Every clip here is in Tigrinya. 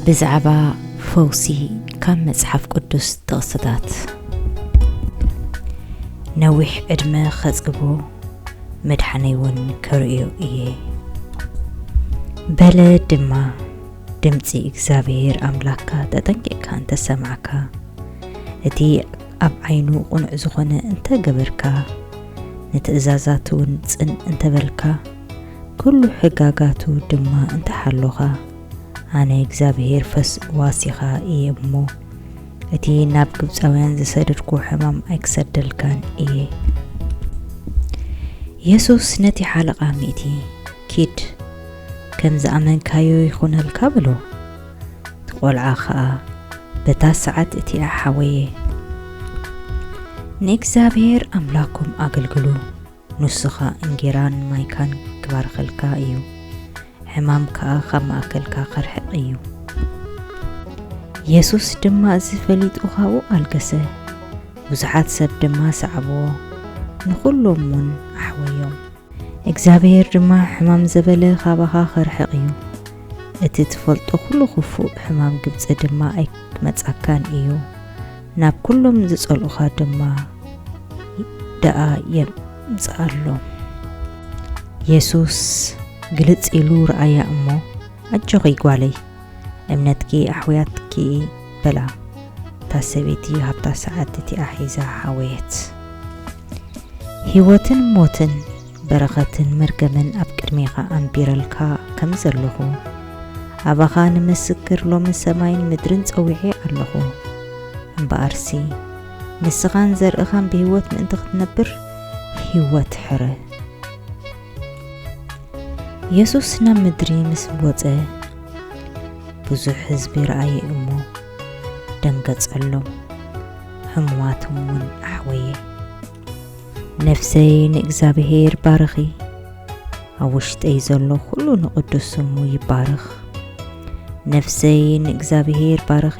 ብዛዕባ ፈውሲ ካብ መጽሓፍ ቅዱስ ጥቕስታት ነዊሕ ዕድመ ኸጽግቦ መድሓነይ እውን ከርእዮ እየ በለ ድማ ድምፂ እግዚኣብሔር ኣምላክካ ተጠንቂቕካ እንተሰማዕካ እቲ ኣብ ዓይኑ ቁኑዕ ዝኾነ እንተገበርካ ንትእዛዛት እውን ጽን እንተበልካ ኩሉ ሕጋጋቱ ድማ እንተ ሓሎኻ፣ ኣነ እግዚኣብሄር ፈዋሲኻ እየ እሞ፣ እቲ ናብ ግብጻውያን ዝሰደድኩዎ ሕማም ኣይክሰደልካን እየ። የሱስ ነቲ ሓለቓ ሚእቲ፣ ኪድ፣ ከም ዝኣመንካዮ ይኹነልካ በሎ። እቲ ቈልዓ ኸኣ በታ ሰዓት እቲኣ ሓወየ። ንእግዚኣብሄር ኣምላኽኩም ኣገልግሉ። ንሱኻ እንጌራን ማይካን ኪባርኸልካ እዩ፣ ሕማም ከኣ ኻብ ማእከልካ ኺርሕቕ እዩ። የሱስ ድማ እዚ ፈሊጡ ኻብኡ ኣልገሰ፣ ብዙሓት ሰብ ድማ ሰዓብዎ፣ ንዅሎምውን ኣሕወዮም። እግዚኣብሄር ድማ ሕማም ዘበለ ኻባኻ ኺርሕቕ እዩ፣ እቲ እትፈልጦ ዅሉ ኽፉእ ሕማም ግብጺ ድማ ኣይኪመጻካን እዩ። ናብ ኩሎም ዝጸልኡኻ ድማ ደኣ የምጽኣሎም። የሱስ ግልጽ ኢሉ ረኣያ እሞ፣ ኣጆኺ ጓለይ፣ እምነትኪ ኣሕውያትኪ በላ። እታ ሰበይቲ ኣብታ ሰዓት እቲኣ ሒዛ ሓወየት። ህይወትን ሞትን በረኸትን መርገምን ኣብ ቅድሜኻ ኣንቢረልካ ከም ዘለኹ፣ ኣባኻ ንምስክር ሎሚ ሰማይን ምድርን ጸዊዔ ኣለኹ። እምበኣርሲ፣ ንስኻን ዘርእኻን ብህይወት ምእንቲ ኽትነብር፣ ህይወት ሕረ። የሱስ ናብ ምድሪ ምስ ወጸ፣ ብዙሕ ህዝቢ ረኣየ እሞ፣ ደንገጸሎም፣ ሕሙማቶም እውን ኣሕወየ። ነፍሰይ ንእግዚኣብሄር ባርኺ፣ ኣብ ውሽጠይ ዘሎ ዅሉ ንቕዱስ ስሙ ይባርኽ። ነፍሰይ ንእግዚኣብሄር ባርኺ፣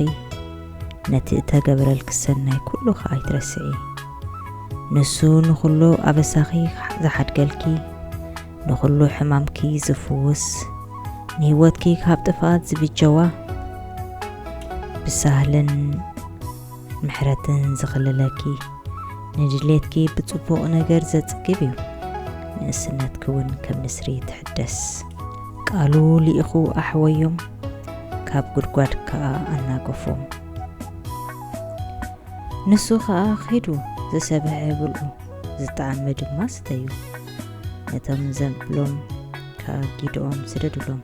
ነቲ እተገብረልኪ ሰናይ ኵሉ ኸኣ ኣይትረስዒ። ንሱ ንዅሉ ኣበሳኺ ዝሓድገልኪ፣ ንዅሉ ሕማምኪ ዝፍውስ፣ ንህይወትኪ ካብ ጥፍኣት ዝብጀዋ ብሳህልን ምሕረትን ዝኽልለኪ ንድሌትኪ ብጽቡቕ ነገር ዘጽግብ እዩ ንእስነትኪ ውን ከም ንስሪ ትሕደስ። ቃሉ ሊኢኹ ኣሕወዮም ካብ ጉድጓድ ክኣ ኣናገፎም ንሱ ክኣ ኺዱ ዝሰበሐ ብልዑ ዝጠዓመ ድማ ስተዩ ነቶም ዘብሎም ክኣ ጊድኦም ስደዱሎም።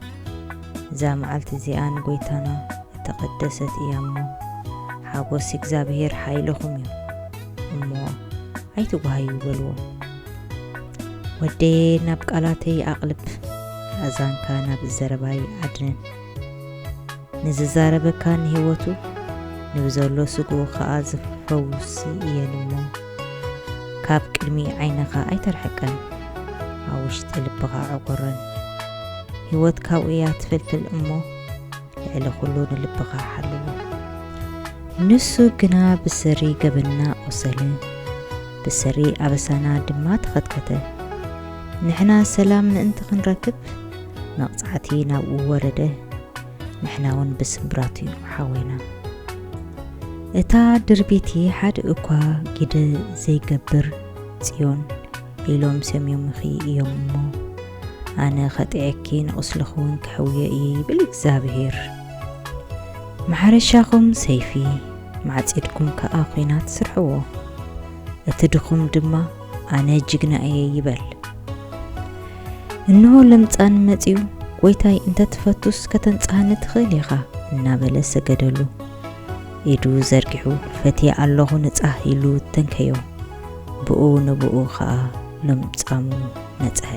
እዛ መዓልቲ እዚኣ ንጐይታና እተቐደሰት እያ እሞ፣ ሓጐስ እግዚኣብሄር ሓይልኹም እዩ እሞ፣ ኣይትጕሃዩ በልዎ። ወደየ ናብ ቃላተይ ኣቕልብ፣ ኣእዛንካ ናብ ዘረባይ ኣድንን። ንዝዛረበካ ንህይወቱ፣ ንብዘሎ ስግኡ ኸኣ ዝፈውስ እየን እሞ፣ ካብ ቅድሚ ዓይንኻ ኣይተርሕቀን ኣብ ውሽጢ ልብኻ ዕቑርን ህይወት ካብኡ እያ ትፍልፍል እሞ ልዕሊ ኩሉ ንልብኻ ሓልዎ ንሱ ግና ብሰሪ ገበንና ቆሰለ ብሰሪ ኣበሳና ድማ ተኸትከተ ንሕና ሰላም ምእንቲ ክንረክብ መቕጻዕቲ ናብኡ ወረደ ንሕና ውን ብስምብራት ዩ ሓውና። እታ ድርቢቲ ሓደ እኳ ግደ ዘይገብር ጽዮን ኢሎም ሰምዮምኺ እዮም እሞ ኣነ ከጥዕየኪ ንቁስልኺ ውን ከሕውዮ እየ ይብል እግዝኣብሄር። ማሕረሻኹም ሰይፊ ማዕጺድኩም ከኣ ኩናት ስርሕዎ እቲ ድኹም ድማ ኣነ ጅግና እየ ይበል። እንሆ ለምጻን መጺኡ ጎይታይ እንተትፈቱስ ከተንጽሃኒ ትኽእል ኢኻ እናበለ ሰገደሉ። ኢዱ ዘርጊሑ ፈትየ ኣለኹ ንጻህ ኢሉ ተንከዮ። ብኡ ንብኡ ኸኣ ለምጻሙ ነጽሐ።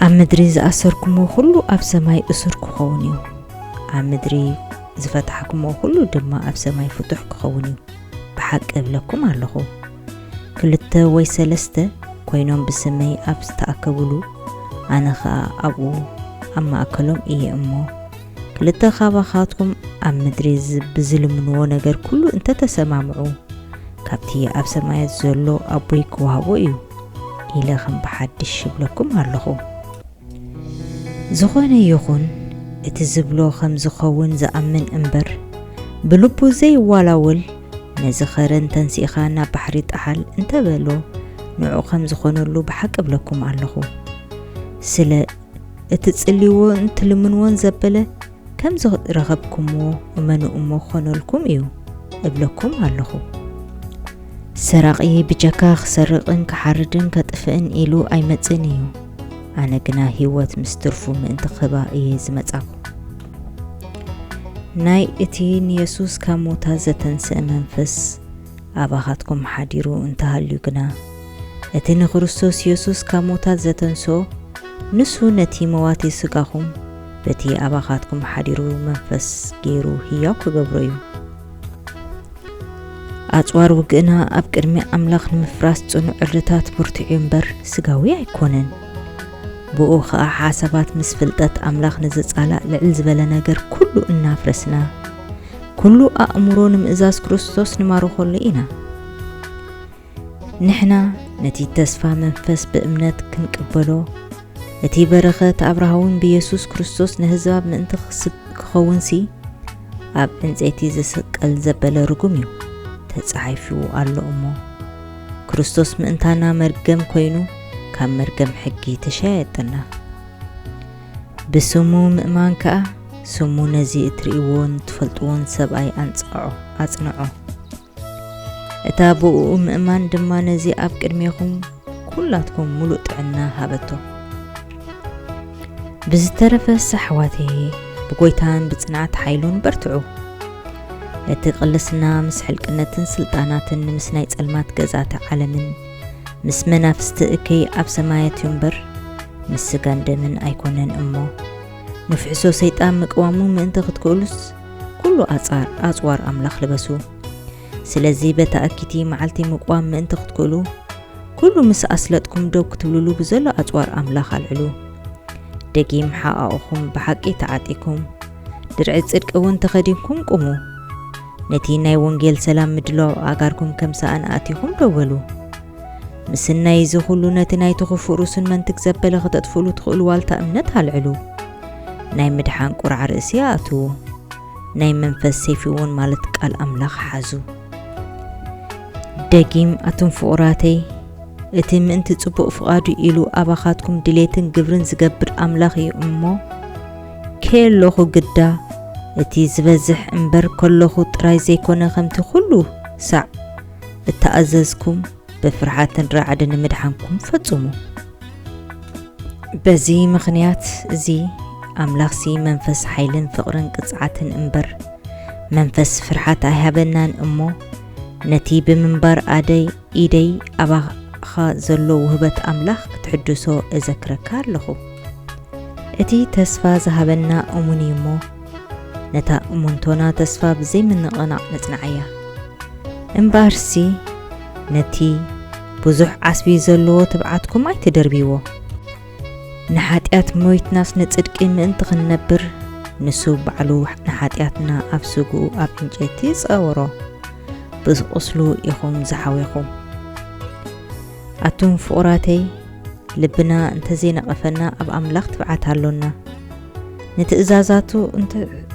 ኣብ ምድሪ ዝኣሰርኩሞ ኩሉ ኣብ ሰማይ እሱር ክኸውን እዩ፣ ኣብ ምድሪ ዝፈታሕኩሞ ኩሉ ድማ ኣብ ሰማይ ፍቱሕ ክኸውን እዩ። ብሓቂ እብለኩም ኣሎኹ፣ ክልተ ወይ ሰለስተ ኰይኖም ብስመይ ኣብ ዝተኣከቡሉ፣ ኣነ ኸኣ ኣብኡ ኣብ ማእከሎም እየ እሞ፣ ክልተ ኻባኻትኩም ኣብ ምድሪ ብዚልምንዎ ነገር ኵሉ እንተ ተሰማምዑ፣ ካብቲ ኣብ ሰማያት ዘሎ ኣቦይ ኪውሃቦ እዩ፣ ኢለ ኸም ብሓድሽ እብለኩም ኣሎኹ። ዝኾነ ይኹን እቲ ዝብሎ ከም ዝኸውን ዝኣምን እምበር ብልቡ ዘይዋላወል ነዚ ከረን ተንሲእኻ ናብ ባሕሪ ጣሓል እንተበሎ ንዑ ከም ዝኾነሉ ብሓቂ እብለኩም ኣለኹ ስለ እትጽልይዎን ትልምንዎን ዘበለ ከም ዝረኸብኩምዎ እመኑ እሞ ክኾነልኩም እዩ እብለኩም ኣለኹ። ሰራቒ ብጀካ ክሰርቕን ክሓርድን ከጥፍእን ኢሉ ኣይመጽእን እዩ። ኣነ ግና ህይወት ምስ ትርፉ ምእንቲ ክህባ እየ ዝመጻኹ። ናይ እቲ ንየሱስ ካብ ሞታ ዘተንስእ መንፈስ ኣባኻትኩም ሓዲሩ እንተ ሃልዩ ግና፣ እቲ ንክርስቶስ የሱስ ካብ ሙዉታት ዘተንስኦ፣ ንሱ ነቲ መዋቲ ስጋኹም በቲ ኣባኻትኩም ሓዲሩ መንፈስ ገይሩ ህያው ክገብሮ እዩ። ኣጽዋር ውግእና ኣብ ቅድሚ ኣምላኽ ንምፍራስ ጽኑዕ ዕርድታት ብርቱዕ እዩ እምበር ስጋዊ ኣይኮነን። ብኡ ኸኣ ሓሳባት ምስ ፍልጠት ኣምላኽ ንዝጻላእ ልዕል ዝበለ ነገር ኩሉ እናፍረስና ኩሉ ኣእምሮ ንምእዛዝ ክርስቶስ ንማርኾሉ ኢና። ንሕና ነቲ ተስፋ መንፈስ ብእምነት ክንቅበሎ እቲ በረኸት ኣብርሃውን ብየሱስ ክርስቶስ ንህዝባብ ምእንቲ ክኸውንሲ ኣብ ዕንፀይቲ ዝስቀል ዘበለ ርጉም እዩ ተፃሒፉ ኣሎ እሞ ክርስቶስ ምእንታና መርገም ኮይኑ ካብ መርገም ሕጊ ተሸያየጠና ብስሙ ምእማን ከኣ ስሙ ነዚ እትርእይዎን ትፈልጥዎን ሰብኣይ ኣንጽዖ፣ ኣጽንዖ። እታ ብእኡ ምእማን ድማ ነዚ ኣብ ቅድሜኹም ኩላትኩም ምሉእ ጥዕና ሃበቶ። ብዝተረፈስ ኣሕዋተየ ብጎይታን ብጽንዓት ሓይሉን በርትዑ። እቲ ቅልስና ምስ ሕልቅነትን ስልጣናትን ምስ ናይ ጸልማት ገዛእቲ ዓለምን ምስ መናፍስቲ እከይ ኣብ ሰማያት እዩ እምበር ምስ ስጋን ደምን ኣይኮነን እሞ ንፍሕሶ ሰይጣን ምቅዋሙ ምእንቲ ክትክእሉስ ኩሉ ኣጻር ኣጽዋር ኣምላኽ ልበሱ ስለዚ በታ እኪቲ መዓልቲ ምቅዋም ምእንቲ ክትክእሉ ኩሉ ምስ ኣስለጥኩም ደው ክትብልሉ ብዘሎ ኣጽዋር ኣምላኽ ኣልዕሉ ደጊም ሓቓቑኹም ብሓቂ ተዓጢኩም ድርዒ ጽድቂ እውን ተኸዲንኩም ቁሙ ነቲ ናይ ወንጌል ሰላም ምድላው ኣእጋርኩም ከም ሰኣን ኣእቲኹም ደው በሉ። ምስናይ እዚ ኹሉ ነቲ ናይቲ ኽፉእ ርእሱን መንትግ ዘበለ ኸተጥፍእሉ ትኽእሉ ዋልታ እምነት ኣልዕሉ። ናይ ምድሓን ቁራዕ ርእሲ ኣእትዉ። ናይ መንፈስ ሰይፊ እውን ማለት ቃል ኣምላኽ ሓዙ ደጊም ኣቱም ፍቑራተይ እቲ ምእንቲ ጽቡቕ ፍቓዱ ኢሉ ኣባኻትኩም ድሌትን ግብርን ዝገብር ኣምላኽ እዩ እሞ ኬሎኹ ግዳ እቲ ዝበዝሕ እምበር ከሎኹ ጥራይ ዘይኮነ ከምቲ ኩሉ ሳዕ እተኣዘዝኩም ብፍርሓትን ራዕድን ንምድሓንኩም ፈጹሙ። በዚ ምኽንያት እዚ ኣምላኽሲ መንፈስ ሓይልን ፍቕርን ቅጽዓትን እምበር መንፈስ ፍርሓት ኣይሃበናን እሞ ነቲ ብምንባር ኣደይ ኢደይ ኣባኻ ዘሎ ውህበት ኣምላኽ ክትሕድሶ እዘክረካ ኣለኹ። እቲ ተስፋ ዝሃበና እሙን እዩ እሞ፣ ነታ እሙንቶና ተስፋ ብዘይምንቕናቕ ነጽንዓያ። እምበኣርሲ ነቲ ብዙሕ ዓስቢ ዘለዎ ትብዓትኩም ኣይትደርብይዎ። ንሓጢኣት ሞይትናስ ንጽድቂ ምእንቲ ክንነብር ንሱ ባዕሉ ንሓጢኣትና ኣብ ስግኡ ኣብ ዕንጨይቲ ጸወሮ ብቁስሉ ኢኹም ዝሓዌኹም ኣቱም ፍቑራተይ ልብና እንተዘይነቐፈና ኣብ ኣምላኽ ትብዓት ኣሎና ንትእዛዛቱ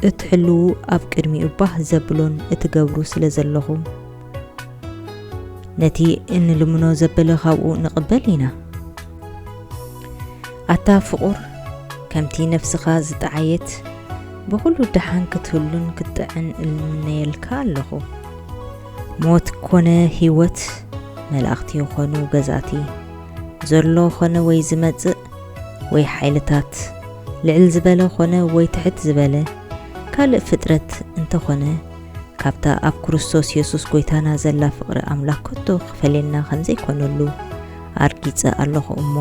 እትሕልዉ ኣብ ቅድሚኡ ባህ ዘብሎን እትገብሩ ስለ ዘለኹም ነቲ እንልምኖ ዘበለ ካብኡ ንቕበል ኢና። ኣታ ፍቑር ከምቲ ነፍስኻ ዝጠዓየት ብኹሉ ደሓን ክትህሉን ክትጥዕን እልምነየልካ ኣለኹ። ሞት ኮነ ህይወት መላእኽቲ ይኾኑ ገዛእቲ ዘሎ ኾነ ወይ ዝመጽእ ወይ ሓይልታት ልዕል ዝበለ ኾነ ወይ ትሕት ዝበለ ካልእ ፍጥረት እንተኾነ ካብታ ኣብ ክርስቶስ የሱስ ጐይታና ዘላ ፍቕሪ ኣምላኽ ከቶ ኺፈልየና ኸም ዘይኰነሉ ኣርጊጸ ኣሎኹ እሞ፣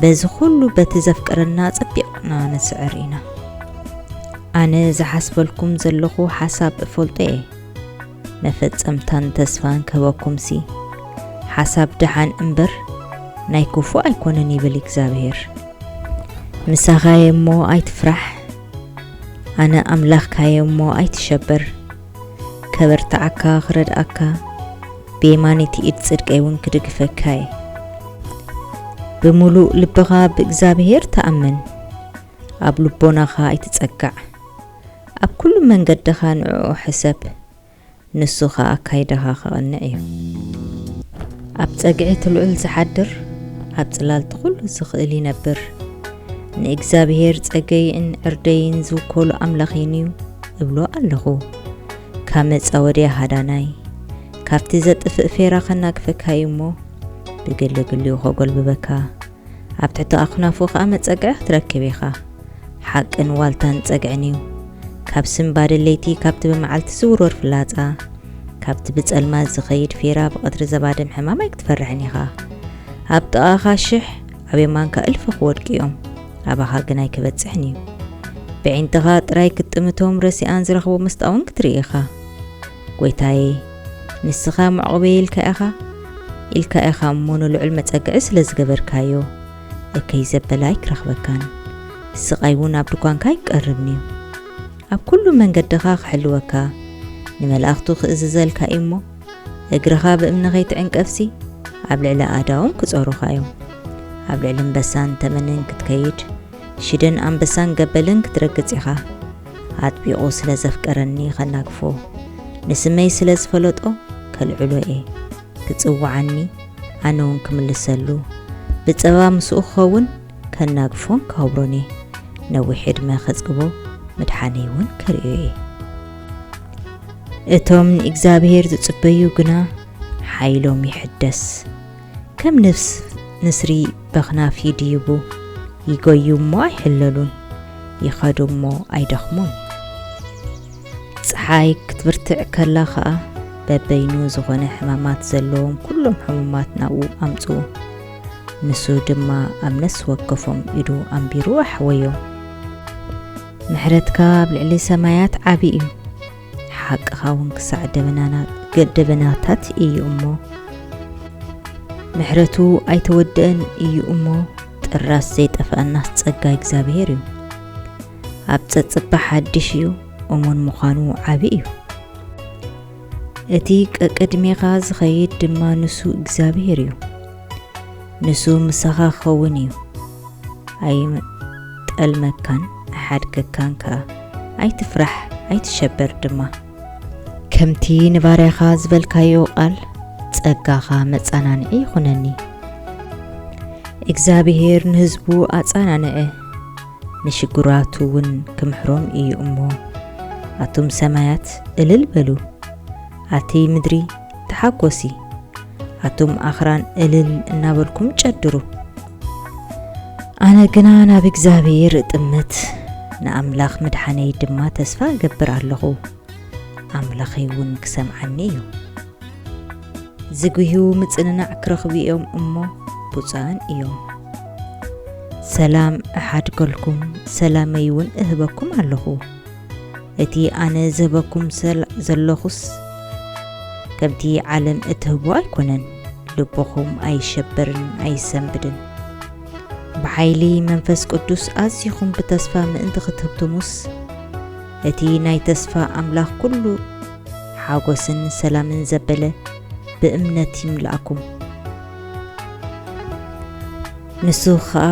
በዚ ዅሉ በቲ ዘፍቅረና ኣጸቢቕና ንስዕር ኢና። ኣነ ዝሓስበልኩም ዘለኹ ሓሳብ እፈልጦ እየ፣ መፈጸምታን ተስፋን ክህበኩምሲ፣ ሓሳብ ደሓን እምበር፣ ናይ ክፉእ ኣይኰነን ይብል እግዚኣብሄር። ምሳኻ እየ እሞ፣ ኣይትፍራሕ። ኣነ ኣምላኽካ'የ እሞ ኣይትሸበር፣ ከበርትዓካ፣ ክረድኣካ፣ ብየማነይቲ ኢድ ጽድቀይ'ውን ክድግፈካ'የ። ብምሉእ ልብኻ ብእግዚኣብሄር ተኣመን፣ ኣብ ልቦናኻ ኣይትጸጋዕ፣ ኣብ ኵሉ መንገድኻ ንዕኡ ሕሰብ። ንሱ ኸኣ ኣካይዳኻ ኸቕንዕ እዩ። ኣብ ጸግዒ እቲ ልዑል ዚሓድር፣ ኣብ ጽላል እቲ ዅሉ ዚኽእል ይነብር። ንእግዚኣብሄር ጸገይን ዕርደይን ዚውከሉ ኣምላኽይን እዩ እብሎ ኣሎኹ። ካብ መጻወድያ ሃዳናይ፣ ካብቲ ዜጥፍእ ፌራ ኸናግፈካ እዩ እሞ፣ ብግሊ ግሊኡ ኼጐልብበካ፣ ኣብ ትሕቲ ኣኽናፉ ከኣ መጸግዒ ክትረክብ ኢኻ። ሓቅን ዋልታን ጸግዒን እዩ። ካብ ስንባደ ለይቲ ካብቲ ብመዓልቲ ዝውርወር ፍላጻ፣ ካብቲ ብጸልማት ዝኸይድ ፌራ ብቐትሪ ዘባድም ሕማም ኣይክትፈርሕን ኢኻ። ኣብ ጥቓኻ ሽሕ ኣብ የማንካ እልፊ ክወድቁ እዮም፣ ኣባኻ ግን ኣይክበጽሕን እዩ። በዒንትኻ ጥራይ ክትጥምቶም ረሲኣን ዝረኽቡ ምስጣ እውን ክትርኢ ኢኻ። ጐይታየ፣ ንስኻ መዕቝበይ ኢልካ ኢኻ፣ ኢልካ ኢኻ እሞ ንልዑል መጸግዒ ስለ ዝገበርካዮ፣ እከይ ዘበለ ኣይኪረኽበካን፣ ስቓይውን ኣብ ድኳንካ ኣይኪቀርብን'ዩ። ኣብ ኵሉ መንገድኻ ኺሕልወካ፣ ንመላእኽቱ ኺእዝዘልካ እዩ እሞ፣ እግርኻ ብእምኒ ኸይትዕንቀፍሲ፣ ኣብ ልዕሊ ኣእዳዎም ኪጾሩኻ እዮም። ኣብ ልዕሊ እምበሳን ተመንን ክትከይድ፣ ሽደን ኣንበሳን ገበልን ክትረግጽ ኢኻ። ኣጥቢቑ ስለ ዘፍቀረኒ ከናግፎ ንስመይ ስለ ዝፈለጦ ከልዕሎ እየ ክጽውዓኒ ኣነ ውን ክምልሰሉ ብጸባ ምስኡ ክኸውን ከናግፎን ክኸብሮን እየ ነዊሕ ዕድመ ከጽግቦ ምድሓነይ ውን ክርእዮ እየ እቶም ንእግዚኣብሄር ዝጽበዩ ግና ሓይሎም ይሕደስ ከም ንፍስ ንስሪ በኽናፍ ይድይቡ፣ ይጎዩ እሞ ኣይሕለሉን፣ ይኸዱ እሞ ኣይደኽሙን። ጸሓይ ክትብርትዕ ከላ ኸኣ በበይኑ ዝኾነ ሕማማት ዘለዎም ኩሎም ሕሙማት ናብኡ ኣምጽኡ። ንሱ ድማ ኣብ ነፍሲ ወከፎም ኢዱ ኣንቢሩ ኣሕወዮም። ምሕረትካ ኣብ ልዕሊ ሰማያት ዓቢ እዩ። ሓቅኻ ውን ክሳዕ ደበናታት እዩ እሞ ምሕረቱ ኣይተወደእን እዩ እሞ ጥራስ ዘይጠፍኣናስ ጸጋ እግዚኣብሄር እዩ ኣብ ጸጽባ ሓድሽ እዩ እሙን ምዃኑ ዓቢ እዩ እቲ ቀቅድሜኻ ዝኸይድ ድማ ንሱ እግዚኣብሄር እዩ ንሱ ምሳኻ ክኸውን እዩ፣ ኣይጠልመካን ኣይሓድገካን ከኣ። ኣይትፍራሕ፣ ኣይትሸበር ድማ። ከምቲ ንባርያኻ ዝበልካዮ ቓል፣ ጸጋኻ መጻናንዒ ይኹነኒ። እግዚኣብሄር ንህዝቡ ኣጻናንዐ፣ ንሽጉራቱ እውን ክምሕሮም እዩ እሞ፣ ኣቱም ሰማያት እልል በሉ፣ ኣቲ ምድሪ፣ ተሓጎሲ ኣቱም ኣኽራን እልል እናበልኩም ጨድሩ። ኣነ ግና ናብ እግዚኣብሔር እጥምት ንኣምላኽ ምድሓነይ ድማ ተስፋ እገብር ኣለኹ ኣምላኸይ እውን ክሰምዓኒ እዩ። ዝጉህዩ ምጽንናዕ ክረኽቡ እዮም እሞ ብፁዓን እዮም። ሰላም እሓድገልኩም ሰላመይ እውን እህበኩም ኣለኹ። እቲ ኣነ ዝህበኩም ዘሎኹስ ከምቲ ዓለም እትህቦ ኣይኮነን። ልብኹም ኣይሸበርን ኣይሰንብድን። ብሓይሊ መንፈስ ቅዱስ ኣዚኹም ብተስፋ ምእንቲ ክትህብትሙስ እቲ ናይ ተስፋ ኣምላኽ ኩሉ ሓጎስን ሰላምን ዘበለ ብእምነት ይምልኣኩም። ንሱ ኸኣ፣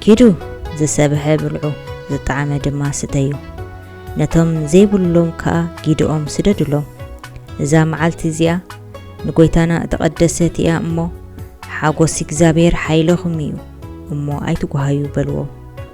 ኪዱ ዝሰብሐ ብልዑ፣ ዝጠዓመ ድማ ስተዩ፣ ነቶም ዘይብሎም ከኣ ጊድኦም ስደዱሎም፣ እዛ መዓልቲ እዚኣ ንጐይታና እተቐደሰት እያ እሞ፣ ሓጐስ እግዚኣብሄር ሓይለኹም እዩ እሞ ኣይትጕሃዩ በልዎም።